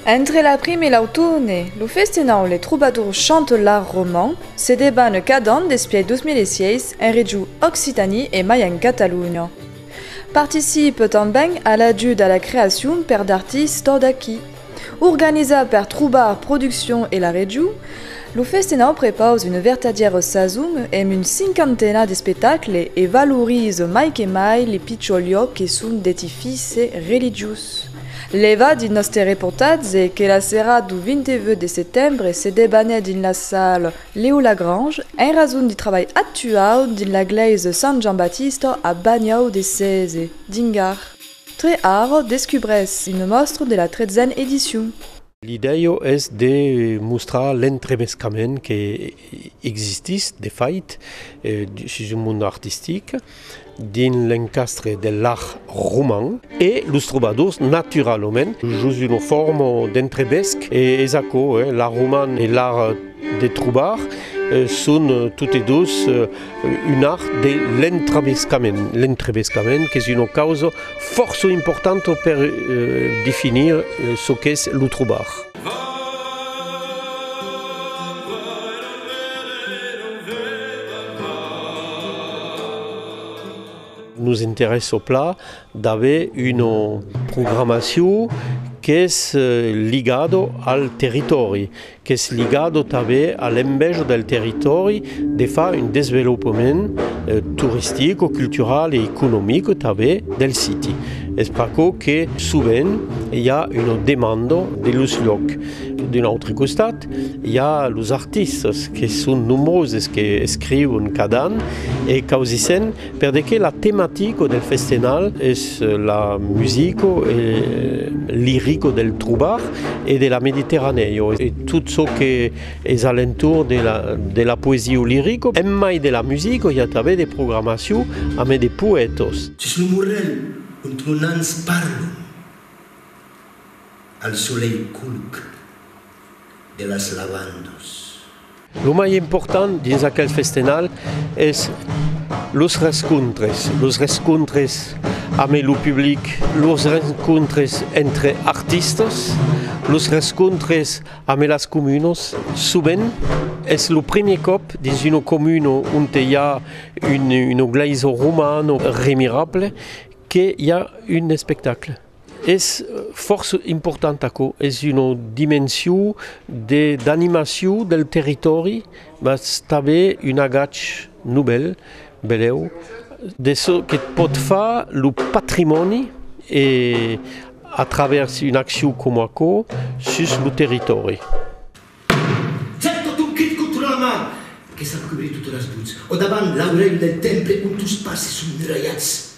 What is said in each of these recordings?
Entre la prime e l'autourne, lo festenau Les Troubadours chantent l'art roman se debanne cada an despièch 2006 en region Occitanie e mai en Catalonha. Participe tanben a l'ajut a la creacion per d'artistes d'aquí. Organizat per trobar produccion e la region, lo Festenau prepaus una vertadièra sason emb un cinquantena d'espectacle e valoriza mai que mai li pichors liòc que son d'edifice religiós. Lèva dins nòste reportatge que la serada du 28 de setembre se debanèt dins la sala Leo Lagrange en rason du trabalh actuau dins la glèisa Sant Jean Baptiste a Bagnau de Cèze, dins Gard. Tre Aro descubrés una mòstra de la tretzena edicion. L'idèia es de mostrar l'entrebescament que existís, de fait, sus un mond artistic, dins l'encastre de l'art roman, e los trobadors, naturalament, jos una forma d'entrebesc, e es aquò, l'art roman e l'art de trobar son totes dos un art de l'entravescament, l'entravescament qu'es una causa fòrça importanta per definir çò qu'es lo trobar. Nos interessa plan d'aver una programacion qu'es ligada al territòri. qu'es ligado tanben a l'enveja del territòri de far un desvelopament toristic o cultural e economic tanben del siti. Es pr'aquò que sovent i a una demanda de los luòcs. D'un autre costat, i a los artistas que son nombroses, que escrivon cada an e causissent Per de que la tematico del festenal es la musico e lirico del trobar e de la Mediterranèo e tot çò que es a l'entorn de la poesia o lirico, en mai de la musico i a travèrs de programacion amé de poètos. Sus lo morrèl ont mon ans parlon al solelh colc. de las lavandas. Lo mai important dins aquel festenal es los rescontres, los rescontres amé lo public, los rencontres entre artistas, los rescontres amé las comunos. Sovent es lo primier còp dins una comuna onte i a una glèisa romana remirable que i a un espectacle. Es fòrça important aquò, es una dimension d'animacion del territòri mas tanben un agach novèl, belèu, de çò que pòt far lo patrimòni e a travèrs una accion coma aquò sus lo territòri. Jan tot un crit contra la mar que s'acubre totes las buts o davant l'aurèu del temple ont tos passes son muralhats.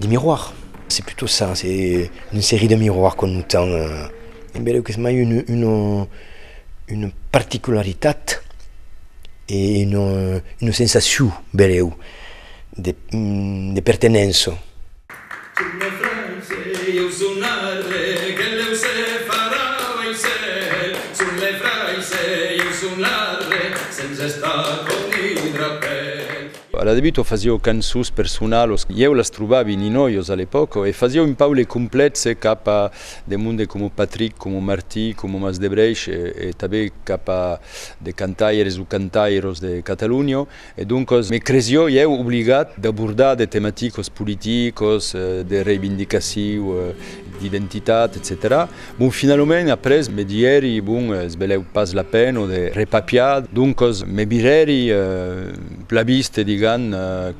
Des miroirs, c'est plutôt ça, c'est une série de miroirs qu'on nous tend. Em beleu qu'es mai une, une, une particularitat e une, une sensacion, beleu, de, de pertenença. A la debut o fasieu cançons personalos, ieu las trobavi ninoios a l'epòca, o e fasieu un paule complètse cap a de monde coma Patrick, coma Martí, coma Mas de Brèish e tanben cap a de cantaires o cantairos de Catalunya. E doncas me cresió ieu obligat d'abordar de tematicos politicos, de reivindicaciu, d'identitat, etcetèra. Bon, finalament, après, me didèri, bon, es belèu pas la pena de repapiar, doncas me virèri la vista, digam,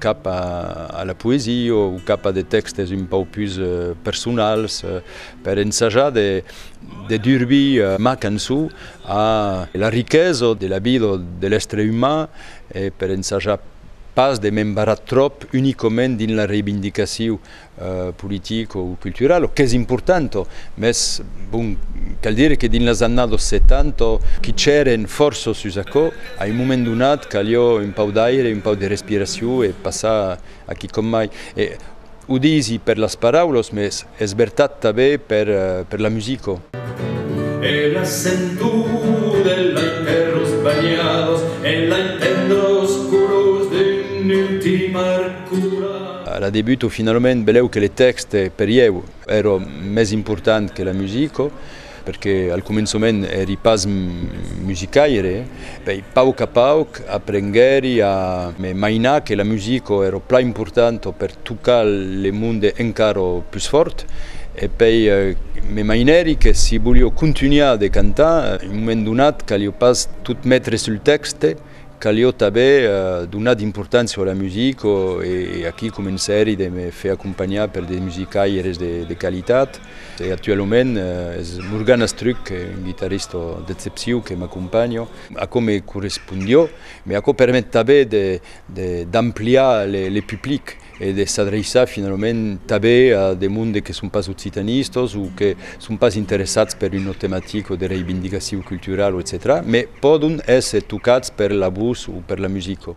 cap a la poesia o cap a de tèxtes un pauc pus personals per ensajar de durvir ma cançon a la riquesa de la vida de l'èstre uman e per ensajar pas de m'embarrar tròp unicament dins la reivindicacion politic o cultural, o qu'es important, mès bon, cal dire que dins las annados 70 quichèren fòrça sus aquò, a un moment donat calió un pauc d'aire, un pauc de respiracion e passar a quicòm mai. E o disi per las paraulas, mès es vertat tanben per la musica. E la sentor e lai terras banhadas e lai tendras colors d'un ultim arc colat. A la debuto finalament belèu que le tèxte per ieu èra mès important que la musica, perque al començament èri pas musicaire, pèi pauc a pauc aprenguèri a me mainar que la musica èra plan importanta per tocar le monde encara pus fòrt, e pèi me mainèri que si volia contunhar de cantar, un moment donat calia pas tot metre sul tèxte, Calió tanben donar d'importància a la musica e aquí comencèri de me fer acompanhar per de musicaires de qualitat e actualament es Morgan Astruc, un guitarrista d'excepcion que m'acompanha. Aquò me correspondió, mai aquò permet tanben d'ampliar le public. e de s'adreiçar finalament tanben a de monde que son pas occitanistas o que son pas interessats per una tematica de reivindicacion culturala, etcetèra, me pòdon èsser tocats per la vos o per la musica.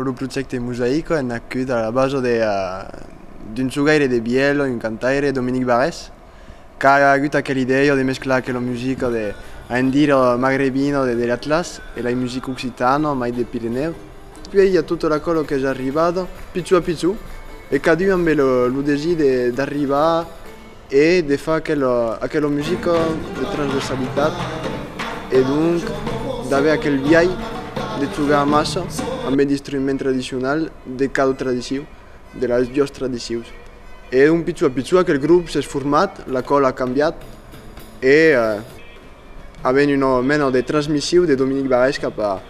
Lo projècte Mosaico en. Quid a la bajo de d'un jogaire de vièlon, un cantaire, Dominique Barrès, qu'a agut aquela idèia de mesclar aquela musica de, a en dire, magrebina de l'Atlas e la musica occitana, mai de Pirenèu. Puèi i a tota la còla qu'es arribada, pichó a pichó, e cadun ambe lo desir d'arribar. E de far aquela musica de transversalitat e donc d'aver aquel biais de jogar amassa amb un instrument tradicional de cada tradicion, de las duas tradicions. E donc pichon a pichon aquel grop s'es format, la còla a cambiat e Avèm una mena de transmissiu de Dominic Barrès cap a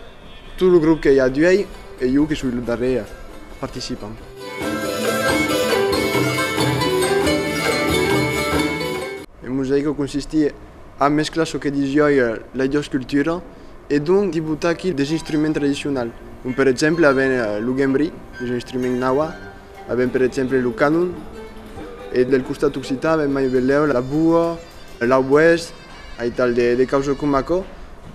tot lo grop que i a d'uèi e jo que soi lo darrièr participant. Lo mosaico consistí a mesclar çò que dís uòi las doas culturas e donc di botar aquí des instruments tradicionals com per exemple avèm lo gembri, que es un instrument nawa, Avèm per exemple lo canon e del costat occitan avèm mai velèu la boa, l'auboèst, aital de causas coma aquò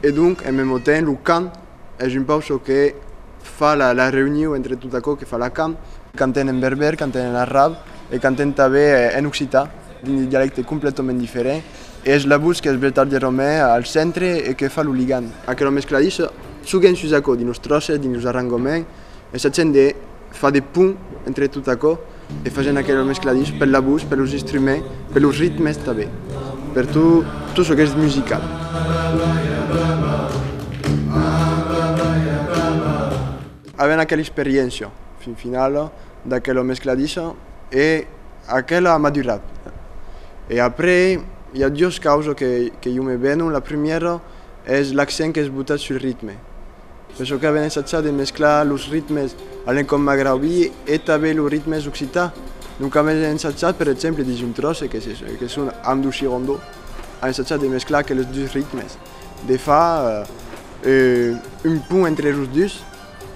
e donc en memo temps lo cant es un pauc çò que fa la reuniu entre tot aquò que fa la cam. Canten en berbèr, canten en arab e canten tanben en occitan dins de dialèctes completament diferents e es la votz qu'es vertadièrament al centre e que fa lo ligant. Aquela mescladissa, çò qu'en sus aquò dins los tròces, dins los arrangoments, es accent de. Far de pont entre tot aquò e fagent aquel mescladís per la votz, per los instruments, per los ritmes tanben, per tot çò qu'es musical. Avent aquela experiéncia fin finala d'aquel mescladís e aquel a madurat. E après i a duas causas que jo me venon, la primièra es l'accent qu'es botat sul ritme. Per çò qu'aven ensajat de mesclar los ritmes a l'encòp magraubí e tanben los ritmes occitans, lo qu'aven ensajat per exemple dins un tròç que son Amdou Chirondo a ensajat de mesclar aqueles dus ritmes, de far un pont entre los dus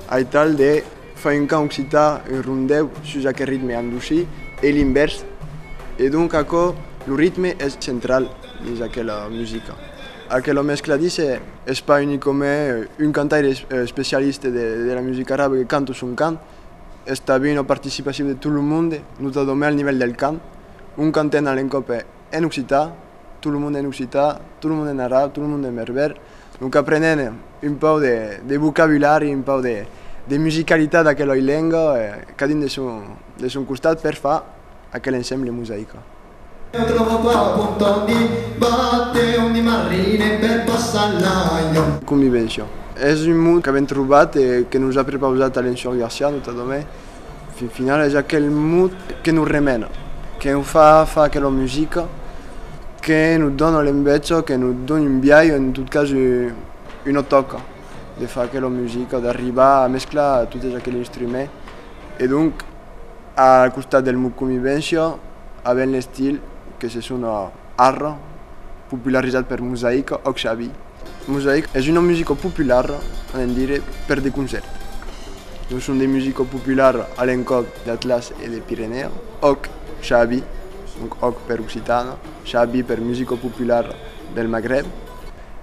aital de far un cant occitan, un rondèu sus aquel ritme andousí e l'invèrs e donc aquò lo ritme es central dins aquela musica. Aquela mescla dise es pas unicome un cantaire especialiste de la musica arabe que canta son cant, es tabin ua participacion de tot lo monde, notadome al nivèl del cant, un canten a l'encòp en occitan, tot lo monde en occitan, tot lo monde en arab, tot lo monde en berbèr, donc aprenent un pauc de vocabulari, un pauc de musicalitat d'aqueloi lenga, cadun de son costat per far aquel ensemble mosaica. Io trovo qua un punto di batteo di marrine per passar l'aio. Convivencia. Es un mot qu'avèm trobat e que nos a prepausat Alain Sior Garcia, notadament. Fin final es aquel mot que nos remena, que nos fa far aquela musica, que nos dona l'enveja, que nos dona un biais, en tot cas una tòca de far aquela musica, d'arribar a mesclar totes aqueles instruments e donc. A costat del mot convivéncia, avèm l'estil que se sona ara, popularizat per Mosaica o Xavi. Mosaica es una musica populara, avèm dire, per de concèrt. Lo son de musica populara a l'encòp d'Atlàs e de Pirenèa, òc, Xavi, donc òc per occitana, xavi per musica populara del Magreb,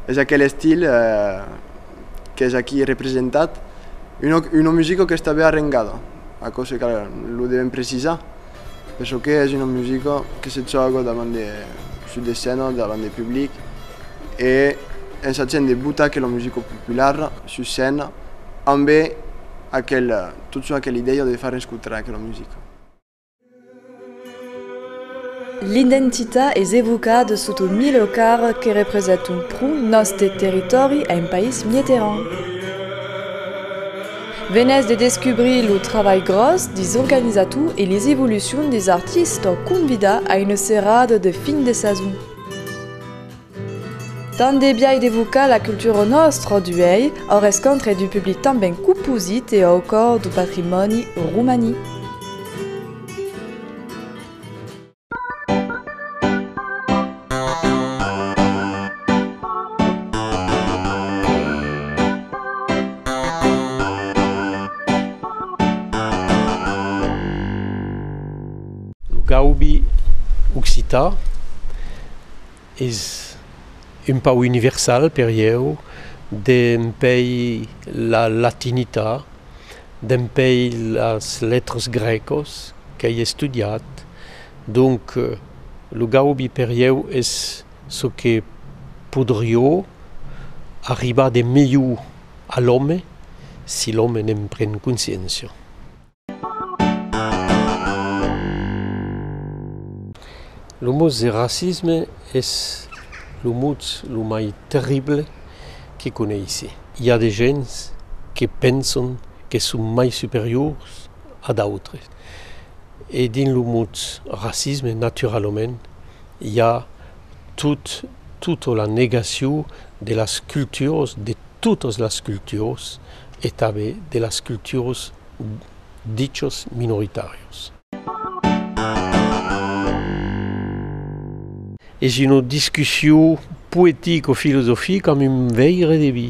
es aquel estil qu'es aquí representat, una musica que està ben arrengada, aquò se cal, lo devèm precisar, per çò que es una musica que se tròba davant de, sus de scèna, davant de public e en sachent de botar aquela musica populara sus scèna ambe aquel, tot son aquela idèia de far escotar aquela musica. L'identita es evocada sota un milho car que represat un pro nòste territòri en país mieteran. Venètz de descubrir lo trabalh gròs dis organizator e les evolucions dis artistes convidats a una serada de fin de sason. Tant de biais d'evocar la cultura au nòstre d'uèi, au rescontre du public tanben coposit e au còr du patrimòni romanic. Lo gaubi occitan Es un pauc universal per ieu dempèi la latinita, dempèi las letras grècas qu'ai estudiat. Donc, lo gaubi per ieu es çò que podrió arribar de melhor a l'òme si l'òme ne'n pren consciéncia. Lo mots de racisme es lo mots lo mai terrible que coneissi. I a de gents que penson que son mai superiors a d'autres. E dins lo mots racisme, naturalament, i a. tot, tota la negacion de las culturas, de totas las culturas e tanben de las culturas dichas minoritàrias. Es una discussion poetico-filosofica amb un veire de vi.